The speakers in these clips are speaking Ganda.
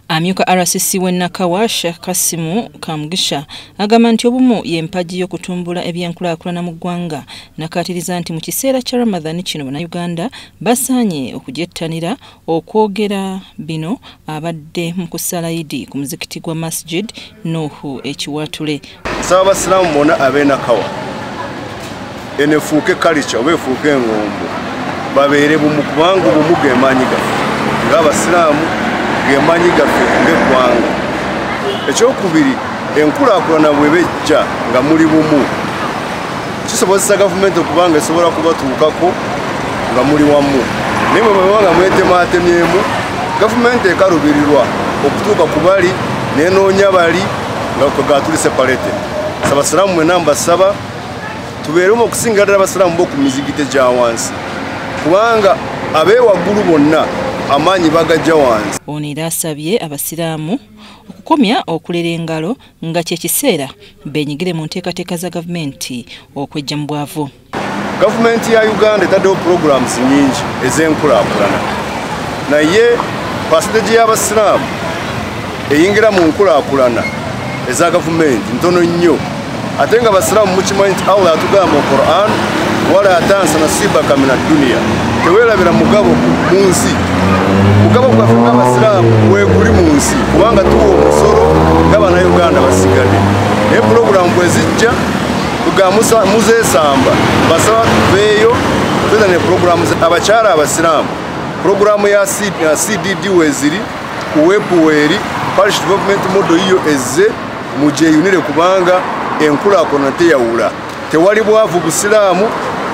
Amyuka RCC w'e Nakawa Sheikh Kasimu Kamugisha agamba nti obumu y'empagi y'okutumbula ebyenkulaakulana mu ggwanga nakaatiriza nti mu kiseera kya Ramadhan kino Bannayuganda basaanye okugyettanira okwogera bino abadde mu kusala Idi ku muzikiti gwa Masjid Nuuhu e Kiwaatule. nsaba abasiraamu bona ab'enakawa eno efuuke kalica oba efuuke engombo babeere bumu kubanga obumu gemaanyi gaffe ng'abasiraamu gemaanyi gaffe ng'eggwanga ekyokubiri enkulaakulana bwe bejja nga muli bumu kisobozesa gavumenti okuba nga esobola kubatuukako nga muli wamu naye bwe baba nga mwetematemyemu gavumenti ekalubirirwa okutuuka ku bali nenoonya bali nga kwe gatuli sepalete sabasiraamu mwena mbasaba tubeeremu okusinga ddala abasiraamu boku mizigite gya wansi kubanga abeewaggulu bonna amaanyi bagajja wansi ono era asabye abasiraamu okukomya okulera engalo nga kyekiseera benyigire mu nteekateeka za gavumenti okwejja mu bwavu gavumenti ya uganda etaddewo programs nyingi ez'enkulakulana naye pasiteji y'abasiraamu eyingira mu nkulakulana eza gavumenti ntono nnyo ate nga abasiraamu mukimanyi nti allah atugamba mu quran wala atansa nasibaka min adduniya teweerabira mugabo mu nsi mugabo gwaffe ng'abasiraamu weguli mu nsi kubanga tuwa omusolo nga banauganda basigadde naye pulogulamu bwezijja ga muzesamba basaba tuveeyo tuza ne pulogulaamu abakyala abasiraamu pulogulaamu ya cdd weziri ku webu weeri parish development model yiyo ezze mugyeyunire kubanga enkulaakulana teyawula tewali bwavu busiraamu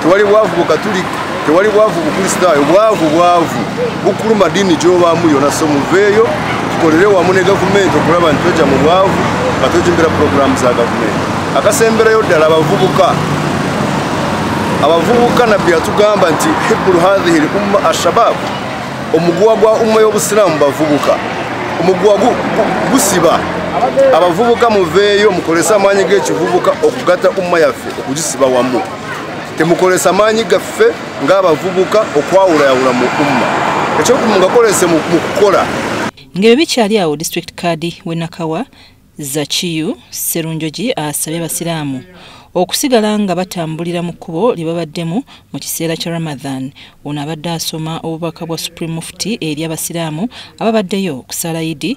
tewali bwavu bukatulika tewali bwavu bukristaayo bwavu bwavu bukuluma ddiini gyobaamu yona so muveeyo tukolere wamu ne gavumenti okulaba nti tweja mu bwavu nga twejimbira puroguramu za gavumenti akasemberayo ddala abavubuka abavubuka nabbi yatugamba nti hibbulu hathihi l umma ashababu omuguwa gwa umma y'obusiraamu bavubuka omuguwa gusiba abavubuka muveeyo mukolese amaanyi g'ekivubuka okugata umma yaffe okugisiba wamu temukolesa maanyi gaffe ng'abavubuka okwawulayawula mu umma ekyokumu ngakolese mu kukola ng'ebyo bikyali awo district card we nakawa zakiyu serunjogi asabye abasiraamu okusigala nga batambulira mu kkubo lye babaddemu mu kiseera kya ramadhan ono abadde asoma obubaka bwa supreme mufti eri abasiraamu ababaddeyo okusaala idi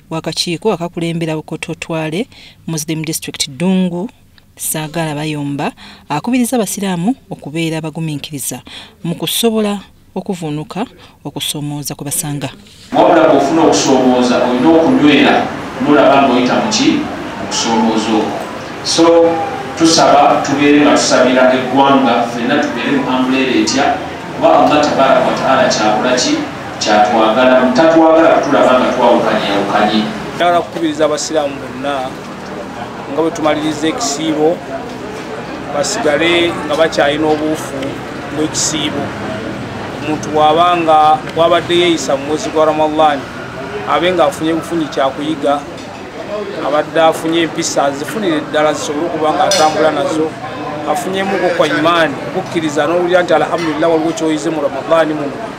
wakakiiko akakulembera bukoto twale muslim district dungu saagaala bayomba akubiriza abasiraamu okubeera abagumiikiriza mu kusobola okuvunuka okusomooza kwe basanga wabula bwofuna okusomooza olina okunywera mulaba ngaoyita muki okusomooza okwo so tusaba tubeere nga tusabira eggwanga fenna tubeere mu ambuleera etya kuba allah tabaraka wataala kyabulaki kyatwagala tatwagala kutulaba nga twawukanyewukanye agala kukubiriza abasiraamu bonna nga bwe tumaliriza ekisiibo basigale nga bakyalina obuufu bwekisiibo omuntu waaba nga wabadde yeeyisa mu mwezi gwa ramadaani abe nga afunye bufunyi kyakuyiga abadde afunye empisa zifunire eddala zisobole okuba nga atambula nazo afunyemu okwo kwa imaani okukkiriza n'owulira nti alhamdulillah waliwo kyoyize mu ramadaani muno